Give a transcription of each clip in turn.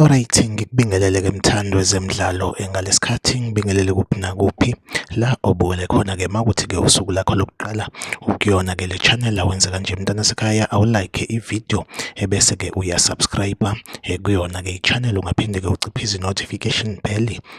Alright, ngikubingelele ke mthandi wezemidlalo eh, ngalesikhathi ngibingelele kuphi nakuphi la obuwele khona ke makuthi ke usuku lakho lokuqala ukuyona ke le channel awenze kanje mntana sekhaya awulike ivideo ebese ke uyasubscribe eh, kuyona ke ichannel ungaphinde ke uciphe izi notification bell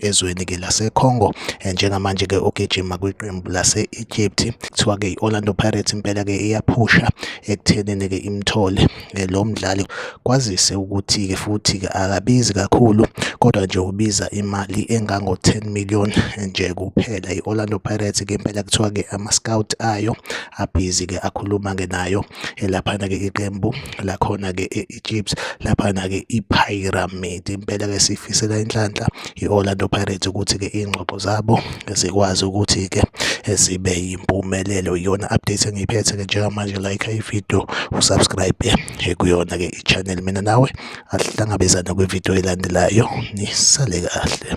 ezweni ke laseCongo eh, njengamanje ke ugijima kwiqembu lase-Egypt kuthiwa ke i-Orlando Pirates impela ke iyaphusha ekuthenini ke imthole eh, lo mdlali kwazise ukuthi ke futhi ke akabizi kakhulu kodwa nje ubiza imali engango-10 million eh, nje kuphela i-Orlando Pirates ke impela kuthiwa ke ama-scout ayo abhizi ke akhuluma ke nayo elaphana ke iqembu lakhona ke iChiefs laphana-ke iPyramid. Impela-ke siyifisela inhlanhla i-Orlando Pirates ukuthi-ke iy'ngxoxo zabo zikwazi ukuthi-ke zibe yimpumelelo. Iyona update engiyiphethe-ke njengamanje like ividiyo usubscribe kuyona-ke i-channel mina nawe asihlangabezane kwividiyo elandelayo nisale kahle.